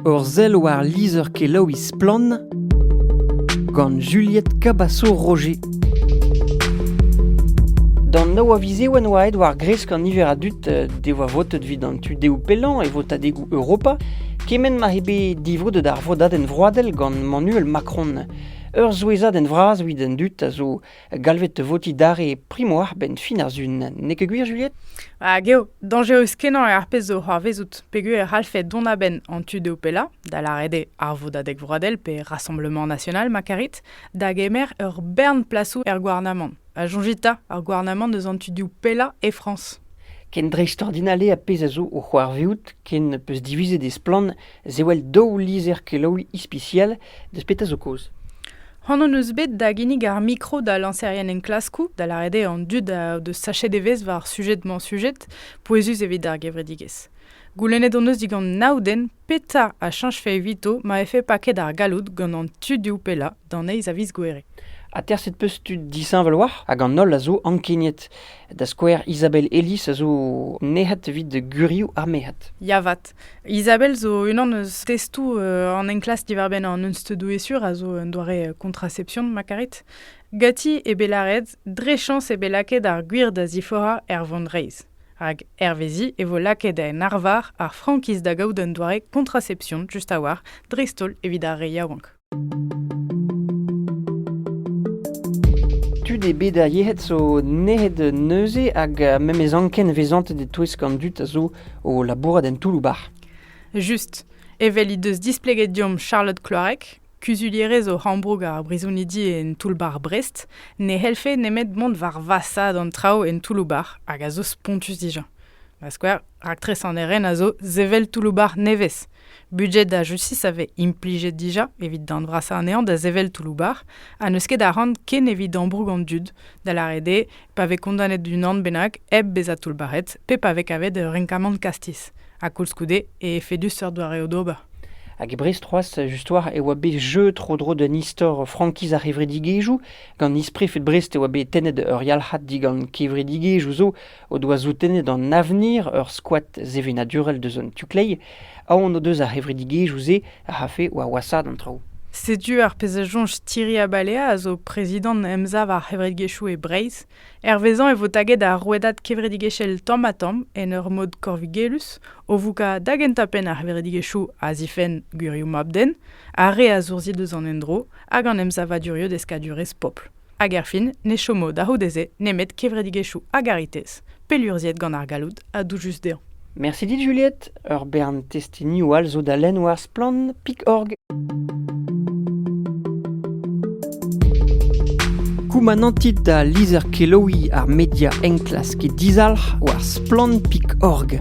Ur sell war lizher-kelaouiñ Splann! gant Juliette Cabasso-Roger. D'an nav a viz eo en oa aet war-gresk an niver a dud eh, devoa votet evit an tu dehoù pellañ e votadegoù Europa, kement ma eo bet divrodet ar vodadenn vroadel gant Emmanuel Macron. Ur souezhadenn vras evit an dud a zo galvet votiñ dare primo arbenn fin ar Sun, n'eo ket gwir, Juliette? Hag eo dañjerus-kenañ eo ar pezh zo c'hoarvezout peogwir e c'hallfe dont a-benn an tu dezho pellañ, da lâret eo ar Vodadeg Vroadel pe Rassemblement National ma karit, da gemer ur bern plasoù er gouarnamant. Ha soñjit 'ta, ar gouarnamant eus an tu div pellañ e Frañs. Ken dreistordinal eo ar pezh a zo o c'hoarvezout ken 'peus divizet e splann Zewel daou lizher-kelaouiñ ispisial deus petra zo kaoz. C'hoant hon eus bet da ginnig ar mikro da lañserien enklaskoù, da lâret eo an dud a deus sachet evezh war sujed-mañ-sujed pouezus evit ar gevredigezh. Goulennet hon eus digant nav den petra a chañjfe evito ma vefe paket ar galloud gant an tudioù pellañ d'an eizh a viz Gouere. Aterset 'peus tud disheñvel war hag an holl a zo ankeniet Da skouer, Isabelle Ellis a zo nec'het evit gurioù ar merc'hed. Ya vat. Isabelle zo unan eus testoù euh, an enklask diwar-benn an unsteudoù-esur a zo un doare euh, contraception ma karit. Gati eo bet lâret dre chañs eo bet lakaet ar gwir da ziforañ er vont reizh. Hag hervezi e vo lakaet en arvar ar frankiz da gaout un doare contraception just a-walc'h dreist-holl evit ar re yaouank. Tud eo bet ar yec'hed zo nec'het neuze hag memes anken vezantet e-touesk an dud a zo o labourat en toull-bac'h. Just. Evel he deus displeget deomp Charlotte Kloarek, kuzulierez o Rambroug ar brizonidi en toull-bac'h Brest, ne c'hellfe nemet mont war vasaat an traoù en toull-bac'h hag a zo spontus dija. Ma skouer, raktres an eren a zo sevel toull-bac'h nevez. Budget a justice a vez implijet dija evit darn vrasañ anezhañ da sevel toullou-bac'h ha n'eus ket a ran ken evit ambroug an dud, da lâret eo pa vez kondanet d'unan bennak hep bezañ toullbac'het pe pa vez kavet ur renkamant kastiz. Ha koulskoude e efedus seurt doareoù d'ober. Hag e Brest c'hoazh, just war, e oa bet jeu tro-dro d'un istor frankiz ar c'hevredigezhioù. Gant isprefed Brest e oa bet tennet ur yalc'had digant kevredigezhioù zo o doa soutennet an avenir ur skoad sevenadurel deus an tu-kleiz, aon o deus ar c'hevredigezhioù-se a c'hafe war wasaat an traoù. Setu ar pezh a soñj Thierry Abalea, a zo prezidant Emsav ar c'hevredigezhioù e Breizh. Hervezañ e vo taget ar rouedad kevredigezhel tamm-ha-tamm en ur mod korvigelus, o voukañ da gentañ-penn ar c'hevredigezhioù a zifenn gwirioù mab-den, ar re a zourzhi deus an endro hag an emsavaduriou deskadurezh pobl. Hag erfin, ne chomo da c'houde-se nemet kevredigezhioù a garitez, pellurzhiet gant ar galloud ha doujus dezhañ. Mersi dit Juliette, ur bern testenioù all zo da lenn war Splann Pic'horg. Koumanantit da lizher kelaouiñ ar media enklask dizalc'h war Splann Pic'horg.